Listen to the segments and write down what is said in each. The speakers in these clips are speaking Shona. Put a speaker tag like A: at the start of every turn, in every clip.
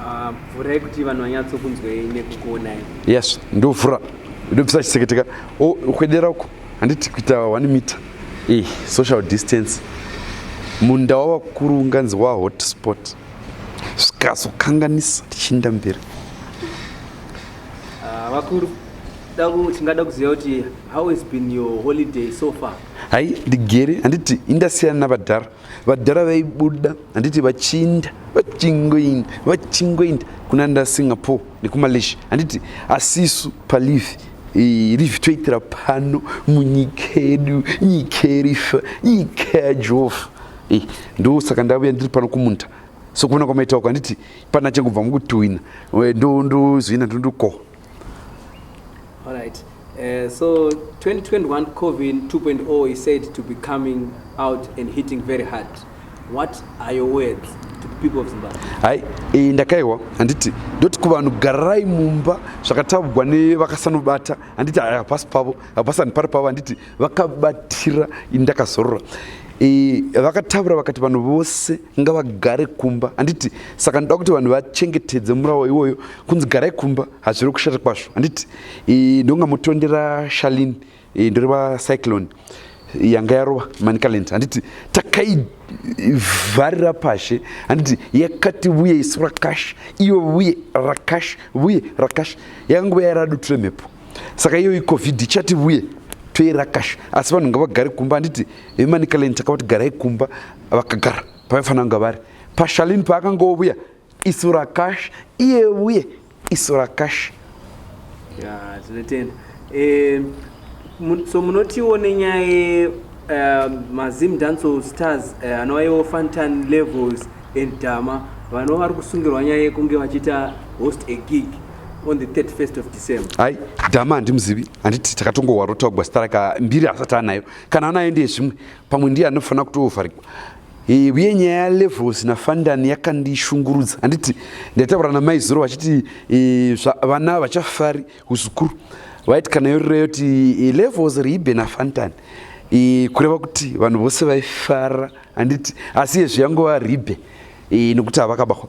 A: Ah,
B: mvura yekuti vanhu vanyatsokunzwei nekukuonai yes ndovhura ndobvisa chiseketeka ukwedera uko handiti kuita one meter e social distance munda wavakuru unganzi wa hotspot zvikazokanganisa tichiinda mberi ah,
C: vakuru tingada kuziva kuti how has been your holiday so far hai ndigere
B: handiti indasiyana navadhara vadhara vaibuda handiti vachinda vachingoinda vachingoinda kuna nda singapore nekumalaysia handiti asisu palive rive toitira pano munyika yedu nyika yerifa nyika yajehovha ndo saka ndavuya ndiri pano kumunda sokuona kwamaitauko handiti pana chengubva mukutuhwina ndozoina ndondukoho All right.
C: Uh, so 2021 COVID 2.0 is said to be coming out and hitting very hard. What are your words to the people of Zimbabwe? Hai, eh,
B: ndakaiwa handiti ndoti kuvanhu garai mumba zvakatabugwa nevakasanobata handiti hapasi pavo hapasani pari pavo handiti vakabatira ndakazorora eh, vakataura vakati vanhu vose ngavagare kumba handiti saka ndoda kuti vanhu vachengetedze murawo iwoyo kunzi garai kumba hazviri kushata kwazvo handiti ndonga motondera shalin ndoreva cyclone yanga yarova manicaland handiti takaivharira pashe handiti yakati vuye isu rakash iyo vuye rakash vuye rakash yakanguva yaraduture mhepo saka iyoyi covid ichati vuye toirakash asi vanhu ngavagare kumba handiti vemanicaland takavati garai kumba vakagara pavaifanira kunge vari pashalini paakangovuya isu rakash iye uye isu rakash tinotenda
C: eh, so munotiwo nenyaya eh, mazim danso stars eh, anovaiwo fantan levels and dama vanova vari kusungirwa nyaya yekunge vachiita host a gig on the 31st of december hai dama
B: handimuzivi handiti takatongohwa rotogwa sitaraka mbiri asati anayo kana anayo ndiye zvimwe pamwe ndiye anofanira kutovharikwa uye nyaya yalevels nafandani yakandishungurudza handiti ndaitaura namai zuro vachiti vana vachafari uzukuru vaiti kana yorira yoti levels riibe nafantani kureva kuti vanhu vose vaifara handiti asi yezvi yangova ribe nokuti havakabahwa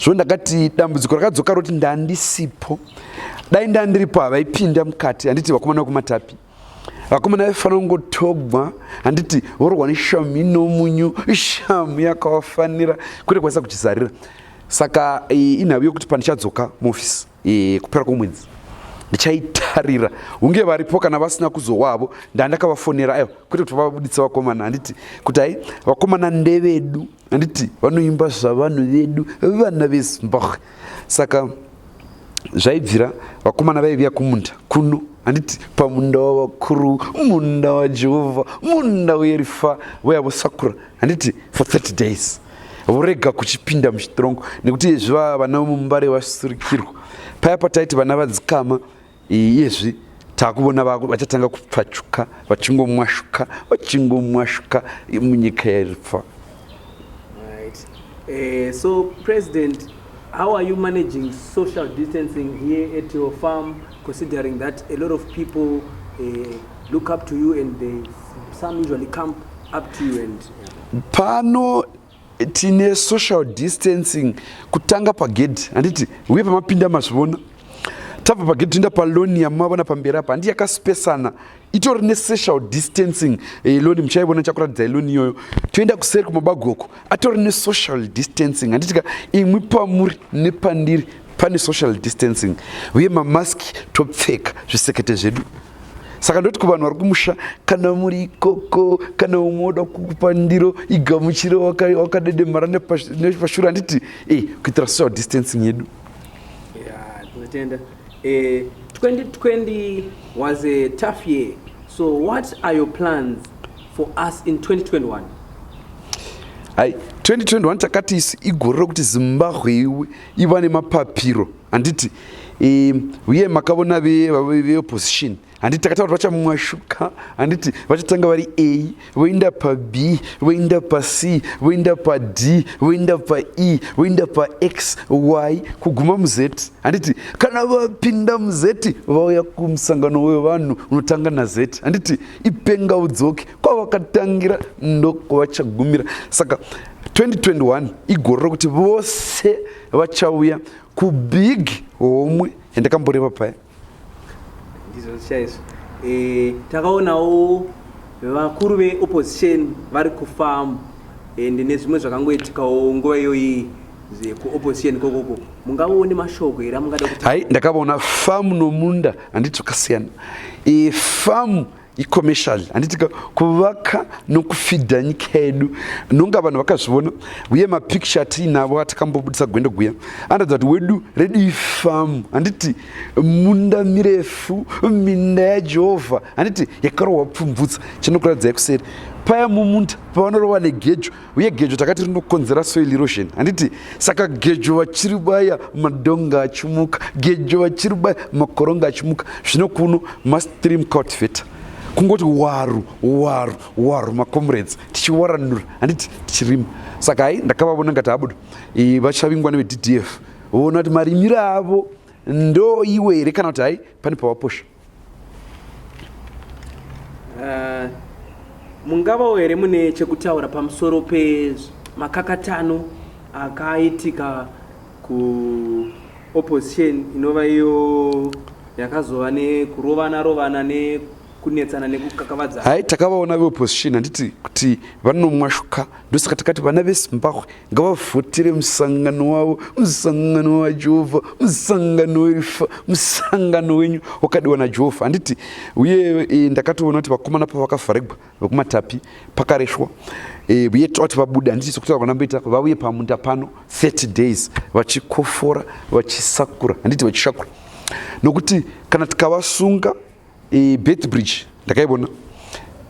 B: zvo ndakati dambudziko rakadzoka roti ndandisipo dai ndandiripo havaipinda mukati handiti vakomana vekumatapi vakomana vaifanira kungotogwa handiti vorwa neshamu inomunyu ishamu yakawafanira kwete kwanisa kuchizarira saka inhau yokuti pandichadzoka muofisi kupera kwomwedzi ndichaitarira hunge varipo kana vasina kuzowavo ndandakavafonera aiwa kwete kuti vavabuditsa vakomana handiti kuti hai vakomana ndevedu handiti vanoimba zvavanhu vedu vana vezimbabwe saka zvaibvira vakomana vaiviya kumunda kuno handiti pamunda wavakuru munda wajehovha munda werifa voya vosakura handiti for 30 days vorega kuchipinda muchitirongo nekuti zviva vana vemumubare vasurikirwa paya pataiti vana vadzikama Iyezvi takuvona vako vachatanga kupfachuka vachingomwashuka vachingomwashuka munyika yairifa. Right.
C: Uh, so president how are you managing social distancing here at your farm, considering that a lot of people uh, look up to you and they, some usually come up to you and... Pano
B: tine social distancing kutanga pagedhi handiti uye pamapinda mazvivona tabva pagedhi toenda paloni yamavona pamberi apa handi yakasipesana itori nesocial distancing eh, loni muchaivona chakuratidzai loni iyoyo toenda kuseri kumabagoko atori nesocial distancing handitika imwi pamuri nepandiri pane social distancing uye mamaski topfeka zvisekete zvedu saka ndoti kuvanhu vari kumusha kana muri ikoko kana umwe oda kukupa ndiro igamuchire wakadedemara nepashura handiti e eh, kuitira social distancing yedu tinotenda
C: 2020 eh, was a tough year so what are your plans for us in 2021
B: hai 2021 takati isu igore rokuti zimbabwe iwe iva nemapapiro handiti uye makavona veopposition handiti takataura kuti vachamwashuka handiti vachatanga vari a voenda pab voenda pac voenda pad voenda pae voenda pax y kuguma muz handiti kana vapinda muz vauya kumusangano wevanhu unotanga naz handiti ipenga udzoki kwavakatangira ndokwavachagumira saka 2021 igore rokuti vose vachauya kubig homwe yandakamboreva paya
C: eh, takaonawo vakuru veopposition vari kufamu and nezvimwe zvakangoitikawo nguva iyoyi kuopposition kokoko mungavaone mashoko here amungada kuti hai ndakavaona
B: famu nomunda handiti zvakasiyana famu icommercial handiti kuvaka nokufidha nyika yedu nonga vanhu vakazvivona uye mapicture atiinavo atakambobudisa gwendo guya anoratidza kuti wedu redu ifamu handiti munda mirefu minda yajehovha handiti yakarohwa pfumvutsa chinokuratidzai kuseri paya mumunda pavanorova negejo uye gejo takati rinokonzera soil erosion handiti saka gejo vachiri baya madonga achimuka gejo vachiri baya makoronga achimuka zvino kuno mastream cultivator kungoti waru waru waru macomrades tichiwaranura handiti tichirima saka hai ndakavavona ngati abudo vachavingwa nevedf voona kuti marimiro avo ndoiwe here kana kuti hai pane pavaposha Uh,
C: mungavawo here mune chekutaura pamusoro pemakakatano akaitika kuopposition inova iyo yakazova nekurovana rovana ne kunetsana nekukakavadza hai takavaona
B: veopposition handiti kuti vanomwashuka ndosaka takati vana vezimbabwe ngavavhotire musangano wavo musangano wajehovha musangano werifa musangano wenyu wakadiwa najehovha handiti uye e, ndakatoona kuti vakomana pavakavharegwa vekumatapi pakaresvwa e, uye toti vabude handiti sokutaura kwanamboita vauye pamunda pano 30 days vachikofora vachisakura handiti vachishakura nokuti kana tikavasunga e, Beitbridge ndakaibona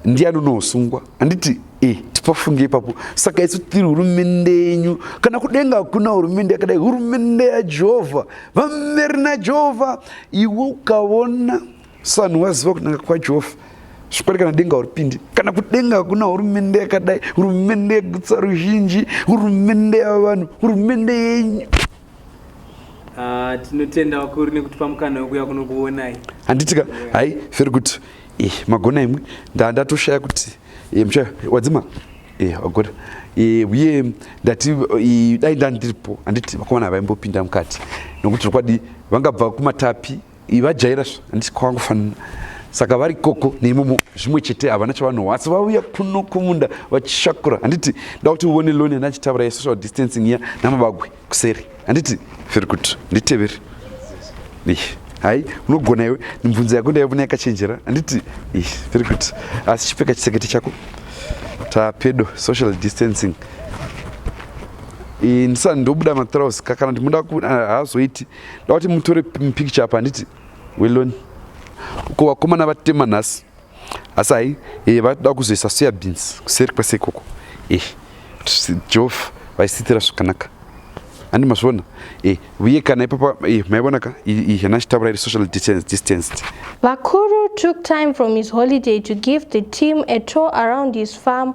B: ndiani unosungwa handiti e, tipafunge ipapo saka isu tiri hurumende yenyu kana kudenga hakuna hurumende yakadai hurumende yajehovha vameri najehovha iwe ukavona sanhu waziva kunaka kwajehovha zvikwari kana denga uripindi kana kudenga hakuna hurumende yakadai hurumende yegutsa ruzhinji hurumende yavanhu hurumende yenyu Ah,
C: tinotenda vakuru nekutipa mukana wekuya kunokuonai handitika
B: hai feri kuti eh, magona imwe ndandatoshaya kuti eh, mshaya wadzima eh, wagona eh, uye eh, ndati eh, dai ndandiripo handiti vakomana vaimbopinda mukati nokuti zvokwadi vangabva kumatapi ivajaira zva handisi kwavangofanira saka vari koko neimomo zvimwe chete havana chavanohwa asi vauya kuno kumunda vachishakura handiti ndakuti uone loni ana achitaura yesocial distancing iya namabagwe kuseri handiti very good nditeveri hai unogona iwe mibvunzo yako ndaivona yakachenjera handiti very good asi chipfeka chisekete chako tapedo social distancing ndisani ndobuda matrouse kakana ndimoda hazoiti ndawati mutore picture apa handiti weloni ko vakomana vatema nhasi asi hai e, vatoda kuzoisa soya beans kuseri kwese ikoko e, jof vaisitira zvakanaka handi mazviona e, uye kana ipapa e, maivona ka hena chitaura iri social distanced vakuru
A: took time from his holiday to give the team a tour around his farm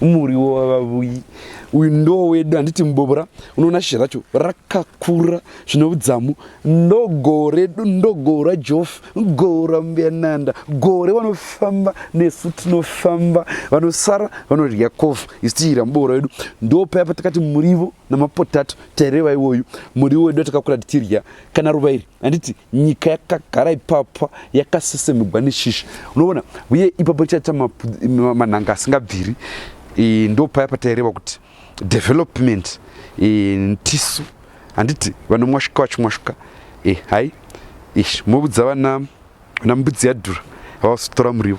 B: muriwo wavavuyi uyu ndo wedu handiti mubobora unoona shizha racho rakakura zvine udzamu ndo goho redu ndo goho rajof goho rambuyananda gore vanofamba nesu tinofamba vanosara vanodya kofu isitiira mubobora wedu ndo paya patakati murivo namapotato taireva iwoyu muriwo wedu atakakura tichirya kana ruva iri handiti nyika yakagara ipapa yakasesemugwa neshisha unoona uye ipapo richaita manhanga asingabviri e, ndopaya pataireva kuti development e, ntisu handiti vanomwashuka vachimwashuka e, hai ish mobudza vana vana mbudzi yadhura vavazotora muriwo